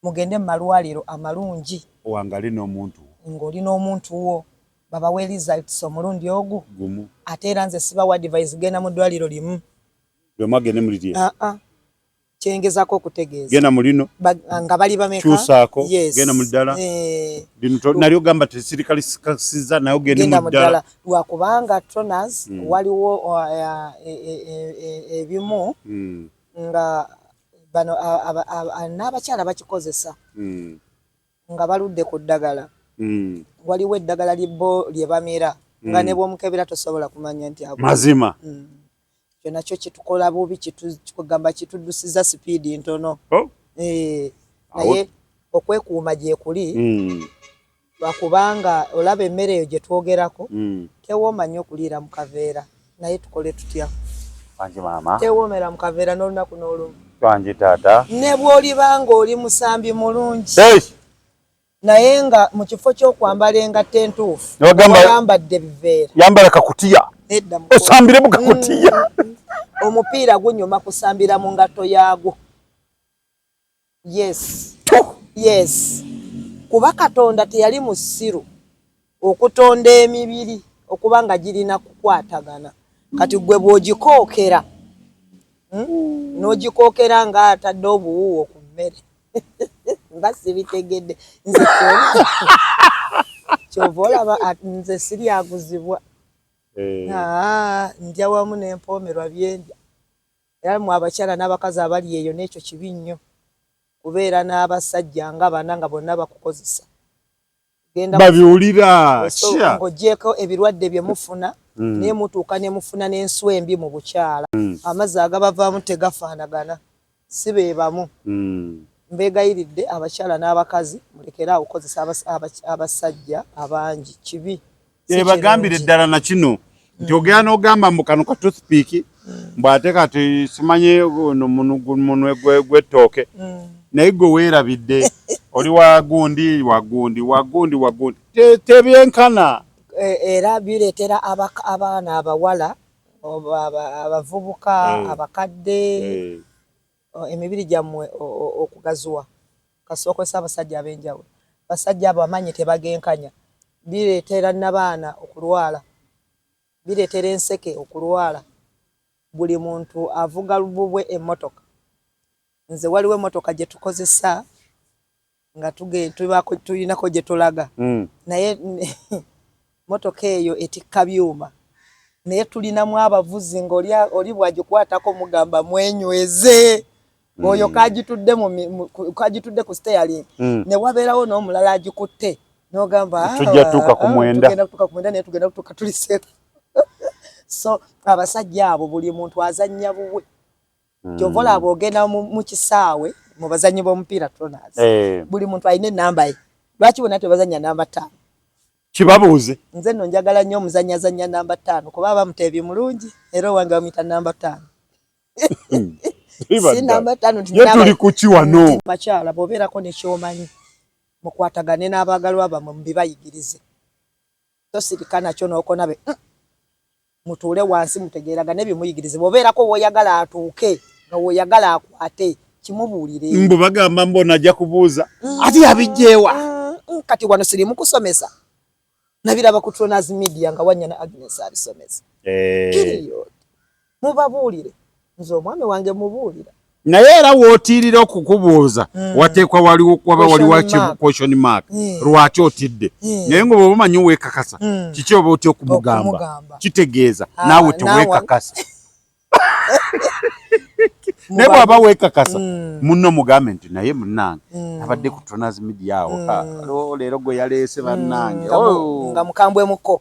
Mugende mu malwaliro amalungi. Wangali nomuntu wo. Nga oli nomuntu wo. Babawe results omulundi ogu. Gumu. Ate era nze sibawa advise genda mu dwaliro limu. Buli omu agende mu lilye. Ah ah. Kyengezako okutegeeza. Genda mu lino. Ba, nga bali bameka. Kyusaako. Yes. Genda mu ddala. Eh. Lino to, nali ogamba tesirikali sikasiza naye ogende mu ddala. Lwakubanga toners mm. waliwo uh, e, e, e, ebimu mm. nga Bano n'abakyala bakikozesa nga baludde ku ddagala. Waliwo eddagala bo lye bamira nga ne bw'omukebera tosobola kumanya nti mazima. Ekyo nakyo kitukola bubi, kigamba kituddusiza sipiidi ntono. Oh. Eh, naye okwekuuma gyekuli hmm. Lwakubanga olaba emere eyo gyetwogerako tewooma nnyo kuliira mu kaveera naye tukole tutya? Wangi maama. Tewoomera mu kaveera n'olunaku n'olumu. Wangi taata. Ne bw'oliba ng'oli musambi mulungi. Eish! Naye nga mu kifo ky'okwambala engatto entuufu oyambadde biveera. Yambala kakutiya. Nedda muko. Osambire mu kakutiya. Omupiira gunyuma kusambira mu ngatto yaagwo. yes yes kuba katonda teyali musiru okutonda emibiri okuba nga girina kukwatagana kati gwe bwogikookera hmm? nogikookera nga atadde obuwuwo ku mmere mba sibitegedde nze kyova olaba nze siryaguzibwa eh. ah, ndya wamu nempoomerwa byendya Era mwe abakyala nabakazi abali eyo nekyo kibi nnyo kubeera nabasajja nga bana nga bonna bakukozesa babiwulira ng'ogyeko ebirwadde bye mufuna mm. naye mutuuka ne mufuna n'ensu embi mu bukyala mm. amazzi agabavaamu tegafaanagana si be bamu mm. mbeegayiridde abakyala n'abakazi mulekere awo kukozesa abasajja abangi kibi ebagambire ddala na kino nti ogera n'ogamba mbu kano ka toothpick mbu ate kati simanye munwe gw'ettooke naye gwe weerabidde oli wagundi wagundi wagundi wagundi tebyenkana e, era bireetera abaana abawala abavubuka eh. abakadde eh. emibiri gyammwe okugaziwa kasita okozesa abasajja ab'enjawulo. Abasajja abo amaanyi tebagenkanya, bireetera nnabaana okulwala, bireetera enseke okulwala, buli muntu avuga lububwe emmotoka, nze waliwo emmotoka gye tukozesa. nga tulinako gye tulaga mm. naye motoka eyo etikka byuma naye tulinamu abavuzi ngaoli bwagikwatako mugamba mwenyweze mm. oyo kagitudde ku steyalin mm. ne wabeerawo n'omulala agikutte nogamba ah, tujja tuuka ku ah, mwenda naye tugenda kutuuka tuli sefu so abasajja abo buli muntu azannya buwe mm. kyova olaba ogenda mu kisaawe mu bazannyi b'omupiira toners eh. buli muntu alina enamba ye lwaki bona tebazanya namba ttaano kibabuuze nze no njagala nnyo omuzannya azannya namba ttaano kuba aba muteebi mulungi era owange bamuyita namba ttaano si namba ttaano tuli kuki wano bakyala bwobeerako nekyomanyi mukwatagane n'abaagalwa bamwe mubibayigirize Tosirika nakyo nokona be mm. Mutuule wansi mutegeeragane bye muyigirize bwobeerako woyagala atuuke nga woyagala akwate kimubuulire. Mbu bagamba mbona ajja kubuuza mm. ati yabijjeewa mm. mm. kati wano siri mukusomesa nabiraba ku Tronas Media nga wanyana Agnes abisomesa eh. period Mubabuulire. Nze omwami wange mubuulira. Naye era wootiirira okukubuuza mm. wateekwa waba waliwo question mark mm. lwaki otidde mm. naye nga oba omanyi weekakasa mm. kiki oba otya okumugamba kitegeeza ah, naawe teweekakasa naye bwaba weekakasa mm. munno mugambe nti naye munnange mm. abadde ku tonas media awo mm. leero gwe yaleese bannange nga oh. mukambwemuko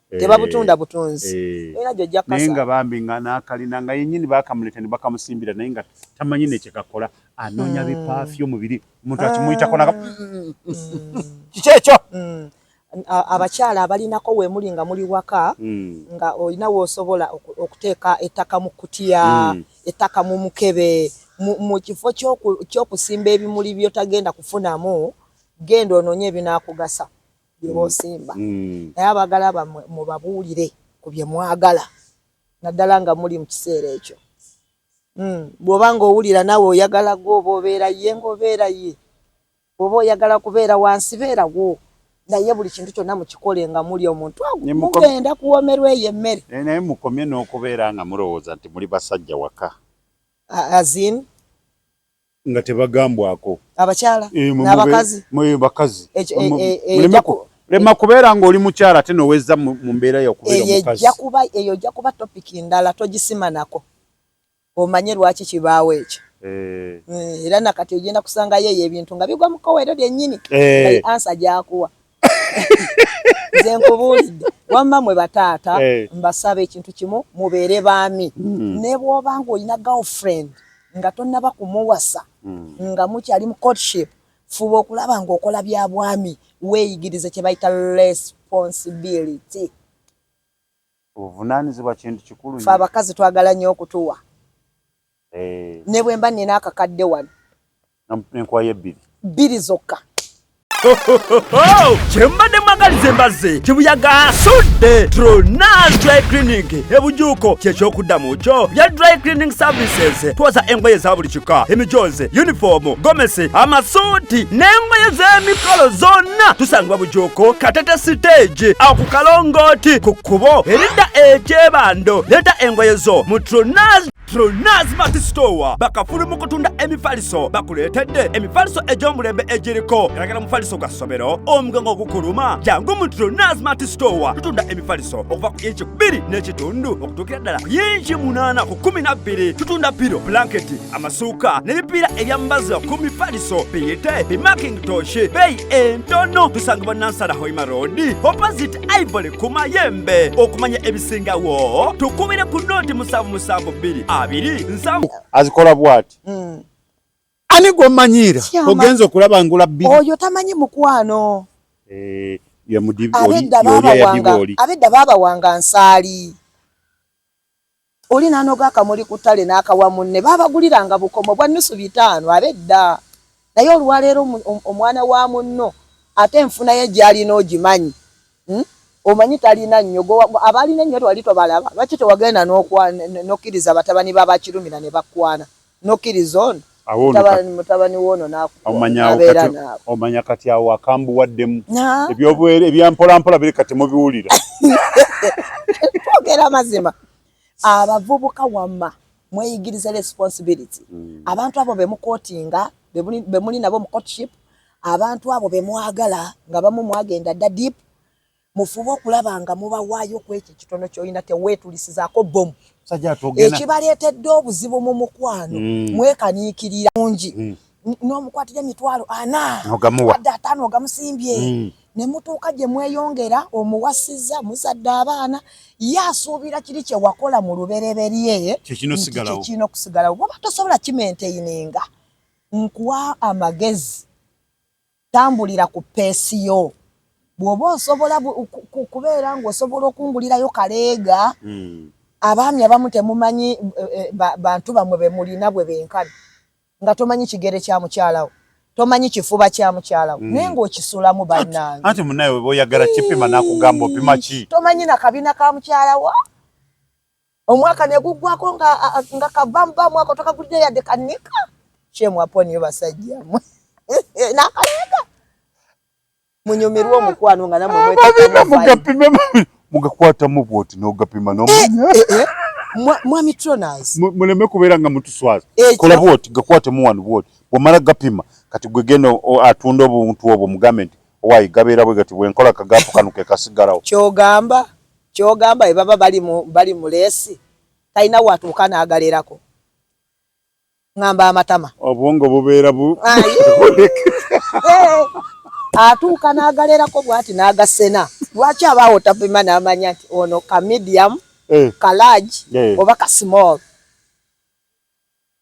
Eh, tebabutunda butunzi eh. era gyo ojja kukasa nga bambi nga nakalina nga yenyini bakamuleta ne bakamusimbira naye nga tamanyi ne kyekakola anoonya mm. bipafyo mubiri omuntu akimuyitako naga mm. kiki ekyo mm. abakyala abalinako wemuli nga muli waka nga olina wosobola okuteeka ettaka mu kutiya ettaka mu mukebe mu kifo kyokusimba ebimuli byotagenda kufunamu genda onoonye ebinakugasa byebaosimba mm. naye abagala bamwe mubabuulire ku bye mwagala naddala nga muli mu kiseera ekyo mm. bw'oba ng'owulira nawe oyagala gwe oba obeera ye ng'obeera ye bw'oba oyagala kubeera wansi beerawo naye buli kintu kyonna mukikole nga muli omuntu mugenda kuwomerwa eyo emmere eh, naye mukomye n'okubeera nga mulowooza nti muli basajja waka azin nga tebagambwako abakyala eh, n'abakazi mwe bakazi eh, eh, lema kubeera ng'oli mukyala ate nowezza mu mbeera yokubeera omukazi eyo ojja kuba topic ndala togisima nako omanye lwaki kibaawo ekyo era nakati ogenda kusangayo eyo ebintu nga bigwa mu kkoweero lyennyini ansa gyakuwa nze nkubuulidde wamma mwe bataata eh. mbasaba ekintu kimu mubeere baami mm. ne bwoba nga olina girlfriend nga tonnaba kumuwasa mm. nga mukyali mu courtship fuba okulaba ng'okola bya bwami weeyigirize kye bayita responsibility obuvunaanyizibwa kintu kikulu fe abakazi twagala nnyo okutuwa Eh. Ne bwe mba nina akakadde wano. Nenkwayo ebbiri. Bbiri zokka. kyembadde mwagaliza embazze kibuyaga asudde tronas dry cleaning ebujuuko kyekyokuddamu kyo bya dry cleaning services twoza engoye za buli kika emijoozi yunifoomu gomesi amasuuti n'engoye z'emikolo zonna tusangibwa bujuuko katete siteegi aku kalongooti ku kkubo eridda ekyebando leeta engoye zo mu tronas Pronaz Mart Store bakafulu mu kutunda emifaliso bakuleetedde emifaliso egy'omulembe egiriko galagala mufaliso gwa ssomero omugongo ogukuluma jangu mu Pronaz Mart Store tutunda emifaliso okuva ku inchi bbiri n'ekitundu okutuukira ddala ku inchi munaana ku kumi na bbiri tutunda piro blanketi amasuuka n'ebipiira ebyambaza ku mifaliso biyite bimaking toshi beeyi entono tusangibwa nansala hoima road opposite ivory ku mayembe okumanya ebisingawo tukubire ku nooti musanvu musanvu bbiri abiri nsanvu azikola bwati hmm. ani gwomanyiira ogenza okulaba ngula bbiri oyo tamanyi mukwano eh, abedda baabawanga nsaali Oli n'anoga akamuli ku ttale n'akawa munne. Baabaguliranga bukomo bwa nnusu bitaano ab'edda. Naye olwaleero omwana wa munno ate enfuna ye gy'alina ogimanyi? Omanyi talina nnyo. Ggwe abaalina ennyo wali tobalaba? Lwaki tewagenda n'okkiriza batabani ba Bakirumira ne bakwana? nokiriza ono mutabani wono nakubeera naawe omanya kati awo akambuwaddemu ebyobuwere ebyampolampola biri kati mubiwulira twogera amazima abavubuka wamma mweyigiriza responsibility hmm. abantu abo bemukotinga bemuli nabo mu courtship abantu abo bemwagala nga bamu mwagenda dda deep mufube okulaba nga mubawaayo ku ekyo ekitono kyolina teweetulisizaako bomu ekibaleetedde obuzibu mu mukwano mm. mwekaniikirira mungi mm. n'omukwatira emitwalo ana adde ataano ogamusimbye mm. ne mutuuka gye mweyongera omuwasiza muzadde abaana ye asuubira kiri kye wakola mu lubereberye kyekirina okusigalawo bwoba tosobola kimenteyininga nkuwa amagezi Tambulira ku peesi yo. Bw'oba osobola kubeera ng'osobola okungulirayo kaleega, hmm. abaami abamu temumanyi eh, eh, bantu bammwe be mulina bwe benkana nga tomanyi kigere kya mukyalawo tomanyi kifuba kya mukyalawo hmm. naye ng'okisulamu bannange anti munaye weba oyagala kipima nakugamba opima ki tomanyi na kabina ka mukyalawo omwaka neguggwako nga nga kavamba mwaka otakagulidde yadde kanika shame upon you basajja mwe nakaleega munyumirwe omukwano nga namwe mweteka mugapime mugakwatamu bwoti nogapima nomanya eh, eh, eh. mwami troners muleme kubeera nga mutuswaza kola bwoti gakwatemu wano bwoti wamala gapima kati gwe genda atunda obuntu obwo mugambe nti owayi gabeera bwe gati bwenkola kagapu kano kekasigalawo kyogamba Kyogamba bebaba bali mu bali mu leesi talina watuuka nagalerako ngamba amatama obwongo bubeera bu atuuka nagalerako bwati nagasena lwaki abaawo tapima namanya nti ono ka medium eh. ka large eh. oba ka small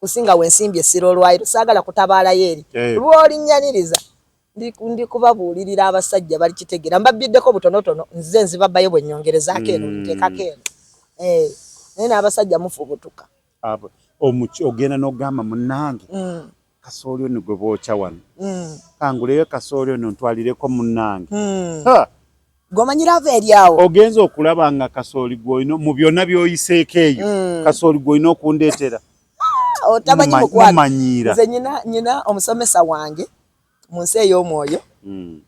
kusinga wensimbi essira olwaliro saagala kutabaalayo eri eh. lwolinnyaniriza ndi kubabuulirira abasajja balikitegeera mbabbiddeko butonotono nze nzibabayo bwe nyongerezaako eno hmm. nteekako eno eh, naye n'abasajja mufubutuka ogenda n'ogamba munnange hmm. kasooli ono gwe bookya wano hmm. kanguleyo kasooli ono ntwalireko munnange gomanyira ava eri awo ogenza okulaba nga kasooli gwolina mu byonna byoyiseeko eyo mm. kasooli gwolina okundeetera ah, otamanyi mukwanomanyiira nze nyina nyina omusomesa wange mu nsi ey'omwoyo mm.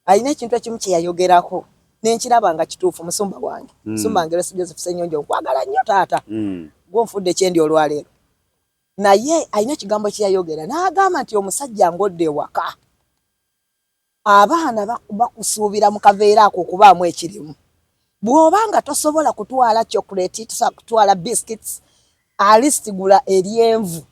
alina ekintu ekimu kye yayogerako nenkiraba nga kituufu musumba wange mm. musumba wange lwesi joseph senyonjo nkwagala nnyo taata mm. gwonfudde ekyendi olwaleero naye alina ekigambo kyeyayogera n'agamba nti omusajja ng'odda ewaka Abaana bakusuubira mu kaveera ako okubaamu ekirimu. Bw'oba nga tosobola kutwala chocolate, tosobola kutwala biscuits, alisti gula eryenvu.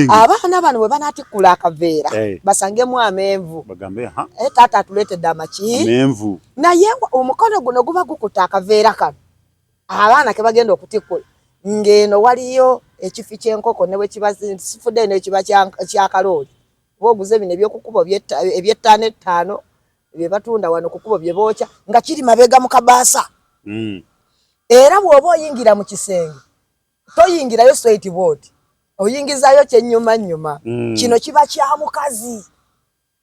Abaana bano bwe banaatikkula akaveera hey, eh. basangemu amenvu bagambe ha hey, eh, taata atuleetedde amaki amenvu. Naye omukono guno guba gukutte akaveera kano abaana ke bagenda okutikkula ng'eno waliyo ekifi ky'enkoko ne bwe kiba sifudde nekiba kya kalooli kuba oguze bino ebyokukubo ebyettaano ettaano bye batunda wano kukubo bye bookya nga kiri mabega mu kabaasa hmm. era bw'oba oyingira mu kisenge toyingirayo straight board oyingizayo kyennyuma nnyuma hmm. kino kiba kya mukazi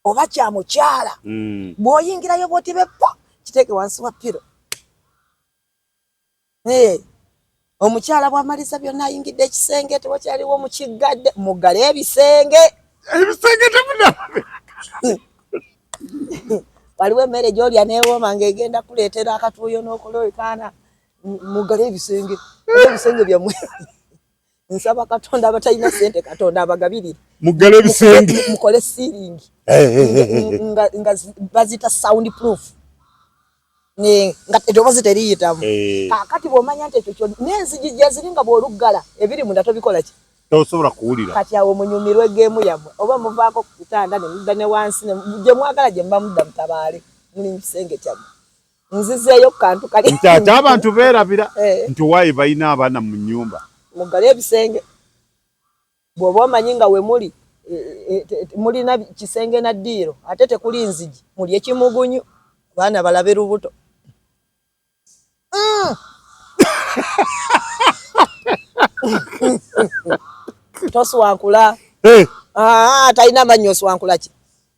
oba kya mukyala hmm. bw'oyingirayo bwoti beppo kiteeke wansi wa piro Hey, omukyala bwamaliza byonna ayingidde ekisenge tewakyaliwo mukiggadde muggale ebisenge ebisenge temuna waliwo emmere gyolya newooma nga egenda kuleetera akatuuyo n'okuloekaana muggale ebisenge ebisenge byamwe nsaba katonda abatalina sente katonda abagabirire mugale ebisenge mukole ceiling eh, eh, eh, nga nga bazita sound proof ne nga edobozi teriyitamu kakati bwomanya nti ekyo kyona n'enzigi gyeziri nga bw'oluggala ebiri munda tobikola ki tosobola kuwulira kati awo munyumirwe geemu yammwe oba muvaako ku kitanda ne mudda ne wansi gye mwagala gye muba mudda mutabaale muli mu kisenge kyammwe nzizeeyo ku kantu kali nti ate abantu beerabira eh. nti waayi balina abaana mu nnyumba muggale ebisenge bw'oba omanyi nga we muli e, e, e, mulina kisenge na ddiiro ate tekuli nzigi muli ekimugunyu abaana balabe lubuto mm. toswankula eh. ah, talina amanyi oswankula ki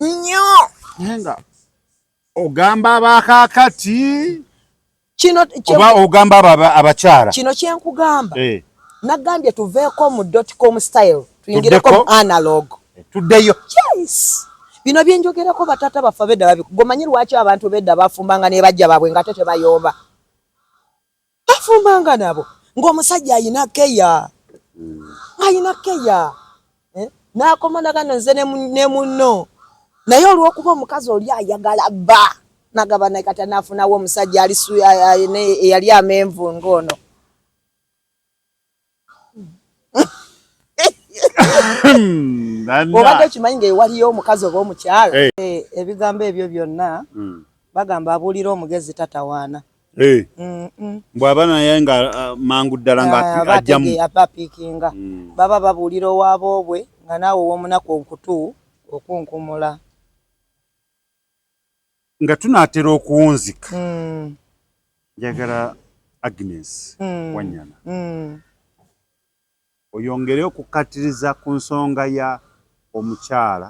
nnyo naye nga ogamba abakakati kino oba ogamba abakyala kino kyenkugamba eh. nagambye tuveeko mu dotcom style tuyingireko mu analog eh, tuddeyo yes bino byenjogerako batata baffe bedda babi gomanyi lwaki abantu bedda bafumbanga nebajja babwe nga te tebayomba bafumbanga nabo ng'omusajja ayina keya ayina keya eh? nakoma nagano nze ne munno naye olwokuba omukazi oli ayagala bba nagaba naye kati anafunawo omusajja eyali amenvu ng'ono obadde okimanyi nga ewaliyo omukazi oba omukyala eh. Eh, ebigambo ebyo byonna hmm. bagamba abuulira omugezi tatawaana eh. bwaba naye nga uh, mangu ddala ngaabapiikinga ah, hmm. baba babuulira owaaba obwe nga naawe owomunaku onkutu okunkumula nga tunaatera okuwunzika mm. njagala agnes mm. wanyana mm. oyongere okukkatiriza ku nsonga ya omukyala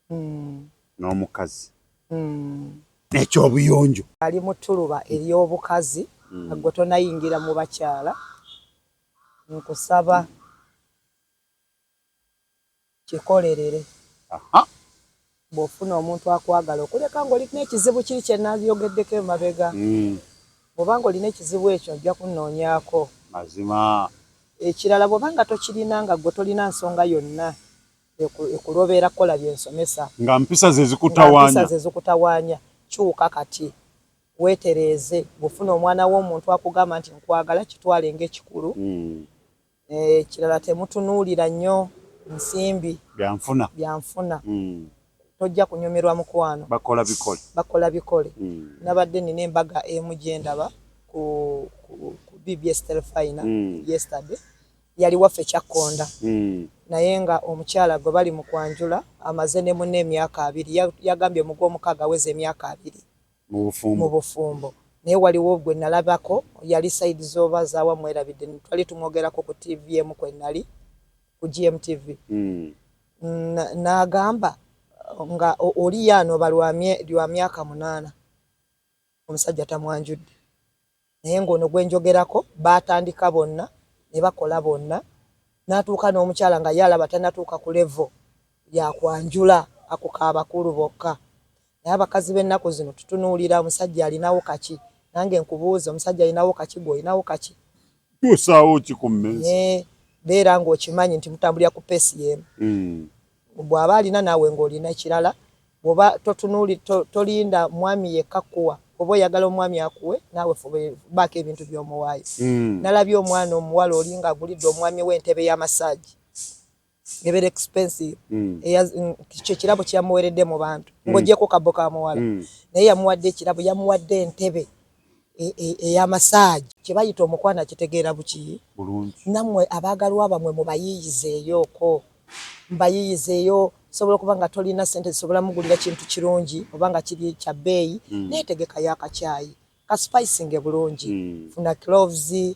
mm. n'omukazi mm. ekyobuyonjo ali mutuluba ery'obukazi mm. agwe tonayingira mu bakyala nkusaba mm. Kikolerere. Aha. Bw'ofuna omuntu akwagala okuleka ng'oli n'ekizibu kiri kye nayogeddeko emabega. Hmm. Bw'oba ng'olina ekizibu ekyo ajja kunnoonyaako. Mazima. Ekirala bw'oba nga tokirina nga ggwe tolina nsonga yonna ekulobeera kukola bye nsomesa. Nga mpisa ze zikutawaanya. Nga mpisa ze zikutawaanya. Kyuka kati. Weetereeze. Bw'ofuna omwana w'omuntu akugamba nti nkwagala kitwale ng'ekikulu. Hmm. Ekirala temutunuulira nnyo nsimbi. Byanfuna. Byanfuna. Tojja kunyumirwa mukwano. Bakola bikole. Bakola bikole. Nabadde nina embaga emu gyendaba ku ku BBS Telefayina yesterday. Yali waffe Kyakkonda naye nga omukyala gwe bali mu kwanjula amaze ne munne emyaka abiri. Yagambye mu gw'omukaaga aweza emyaka abiri. mu bufumbo naye waliwo gwe nalabako yali side zoba zawa mwerabidde twali tumwogerako ku tv emu kwe nali ku GMTV mm. nagamba nga oli yaanoba lwa myaka munaana omusajja tamwanjudde Naye ng'ono gwe njogerako baatandika bonna ne bakola bonna n'atuuka n'omukyala nga ye alaba tannatuuka ku levo ya kwanjula ako ka bakulu bokka. Naye abakazi b'ennaku zino tutunuulira omusajja alinawo kaki? Nange nkubuuze omusajja alinawo kaki? Ggwe olinawo kaki? Kyusaawo ki ku mmeeza? Naye beera ng'okimanyi nti mutambulira ku peesi y'emu. Bwaba alina naawe ng'olina ekirala, bw'oba tolinda mwami yekka kukuwa, bw'oba oyagala omwami akuwe naawe fuba baako ebintu by'omuwaayo. Nalabye omwana omuwala oli ng'agulidde omwami we entebe ya masaagi ebeera expensive, kye kirabo kye yamuweeredde mu bantu ng'ogyeko kabbo ka muwala naye yamuwadde ekirabo, yamuwadde entebe. eya massage. Kyebayita omukwano akitegeera buki bulungi. Namwe abaagalwa bamwe mubayiiyizeeyooko mubayiiyizeeyo osobola okuba nga tolina ssente zisobola mugulira kintu kirungi oba nga kiri kya bbeeyi naye tegekayo akakyayi ka spicinge bulungi. Funa cloves.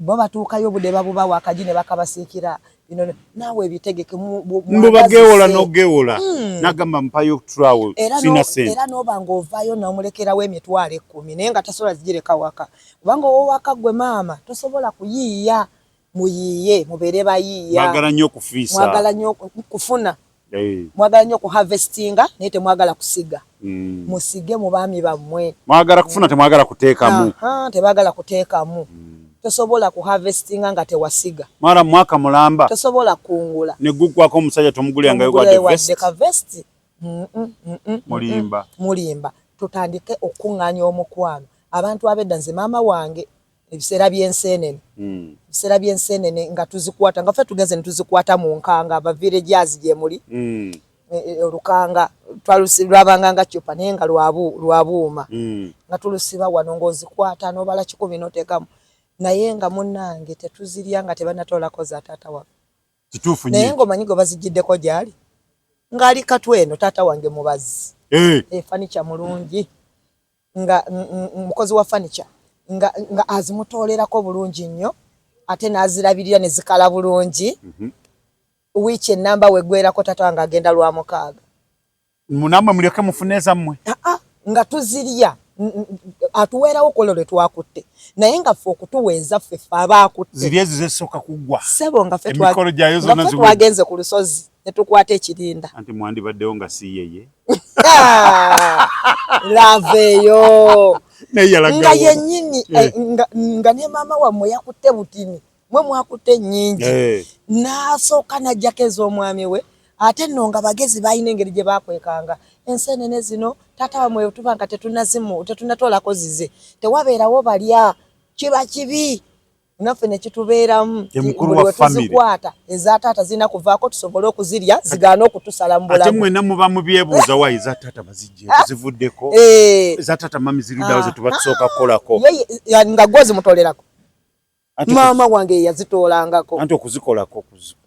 Bo batuukayo obude babubawa akaji ne bakabasiikira bino naawe ebitegeke mbu bagewola nogewola hmm. nagamba mpayo okutulawo sina sente era noba ng'ovaayo nomulekerawo emitwalo ekkumi naye nga tasobola zigireka waka kubanga owowaka gwe maama tosobola kuyiiya muyiiye mubeere bayiiya mwagala nnyo okufiisa mwagala nnyo kufuna hey. mwagala nyo ku harvestinga naye temwagala kusiga mm. musige mu baami bammwe mwagala kufuna temwagala kuteekamu tebagala kuteekamu mm. tosobola ku harvestinga nga tewasiga mara mwaka mulamba tosobola kungula ne gugwako omusajja tomugulira nga yogwa de vest ka vest mm, mm, mm, mulimba mulimba tutandike okunganya omukwano abantu abedda nze mama wange ebiseera by'enseenene hmm. ebiseera by'enseenene nga tuzikwata nga ffe tugeze ne tuzikwata mu nkanga abavirejazi gye muli hmm. e, e, olukanga lwabanga nga cupa naye nga lwa buuma hmm. nga tulusiba wano ng'ozikwata n'obala kikumi n'oteekamu naye nga munnange tetuzirya nga tebanatoolako za taata waffe kituufu naye ng'omanyi gwe bazijjiddeko gyali ng'ali katwe eno taata wange mubazi efanikya eh. eh, mulungi nga mukozi wa furniture nga nga azimutoolerako bulungi nnyo ate n'azirabirira ne zikala bulungi mhm. wiiki ennamba wegwerako tata wange agenda lwa mukaaga munamwe mulyoke mufune ezammwe ah, ah, nga tuzirya atuweerawo kolo lwe twakutte naye nga ffe okutuwa ezaffe ffe abaakutte ziri ezo zesooka kuggwa sebo nga ffe twagenze ku lusozi ne tukwata ekirinda. Anti mwandibaddewo nga si yeye. Lava eyo. Nga yennyini eh, eh. nga ne maama wammwe yakutte butini mwe mwakutte ennyingi eh. n'asooka n'ajjako ez'omwami we ate nno nga bagezi balina engeri gye bakwekanga enseenene zino taata wamwe tuba nga tetunazimu tetunatolako zize tewabeerawo balya kiba kibi naffe nekitubeeramu tuzikwata eza taata zirina kuvaako tusobole okuzirya zigaana okutusala mubulamu ate mwena muba mubyebuuza wa eza taata bazijje zivuddeko eh. eza taata mami zirudawo zetuba ah. tusooka kukolako nga gwo zimutolerako maama wange yeyazitoolangako anti okuzikolako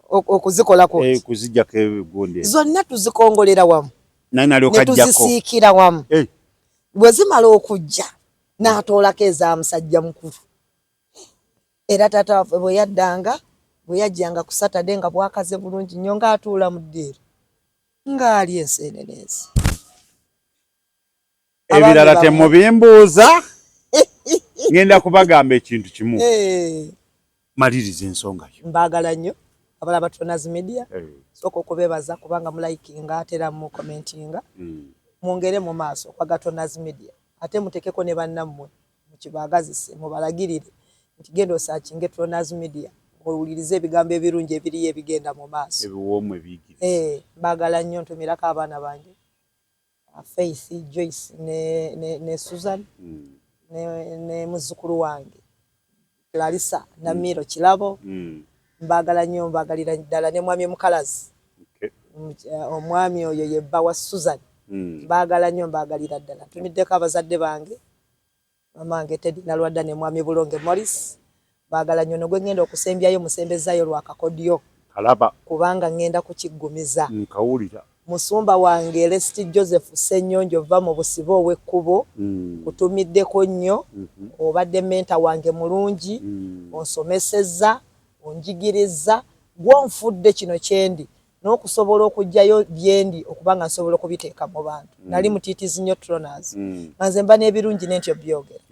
okuzikolako eh, kuzijjako ebigunde zonna tuzikongolera wamu naye nalyokajjakotuzisiikira wamu eh. bwe zimala okujja n'atoolako eza musajja mukulu era taata waffe bwe yaddanga bwe yajjanga ku satade nga bwakaze bulungi nnyo ng'atuula mu ddiiro ng'ali enseeneneezi ebirala temubimbuuza ngenda kubagamba ekintu kimu eh. maliriza ensonga yo mbaagala nnyo abala batonazi media eh. sooka okubeebaza kubanga mulayikinga atera mu commentinga hmm. mwongere mu maaso kwa gatonazi media ate mutekeko ne bannammwe Mukibaagazise, mubalagirire nti genda osaacinge Trona's Media muwulirize ebigambo ebirungi ebiriyo ebigenda mu maaso. Ebiwoomu ebiyigiriza. Eeh mbaagala nnyo ntomerako abaana bange Faith, Joyce ne, ne, ne Susan mm. ne, ne muzzukulu wange Larissa mm. Namiiro mm. Kirabo mm. mbaagala nnyo mbaagalira ddala ne mwami Mukalazi okay. Eh, omwami oyo ye bba wa Susan mm. mbaagala nnyo mbaagalira ddala tumiddeko abazadde bange mamange Teddy Nalwadda ne mwami Bulonge Morris mbaagala nnyo nogwe ngenda okusembyayo musembezaayo lwakakodyo kalaba kubanga ngenda kukiggumiza nkawulira Musumba wange Lest Joseph Ssenyonjo vva mu busibe ow'ekkubo nkutumiddeko nnyo. Obadde mentor wange mulungi, onsomesezza, onjigirizza, ggwe onfudde kino kyendi n'okusobola okuggyayo byendi okuba nga nsobola okubiteeka mu bantu. Nnali mutiitiizi nnyo Tronaz nga nze mba n'ebirungi ne ntya obyogera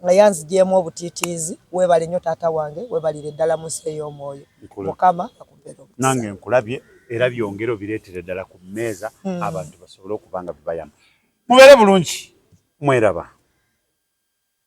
naye anzigyemu obutiitiizi. Weebale nnyo taata wange, weebalire ddala mu nsi ey'omwoyo. Mukama akubeere. nange nkulabye era byongere obireetere ddala ku mmeeza hmm. abantu basobole okuba nga bibayamba mubeere bulungi mweraba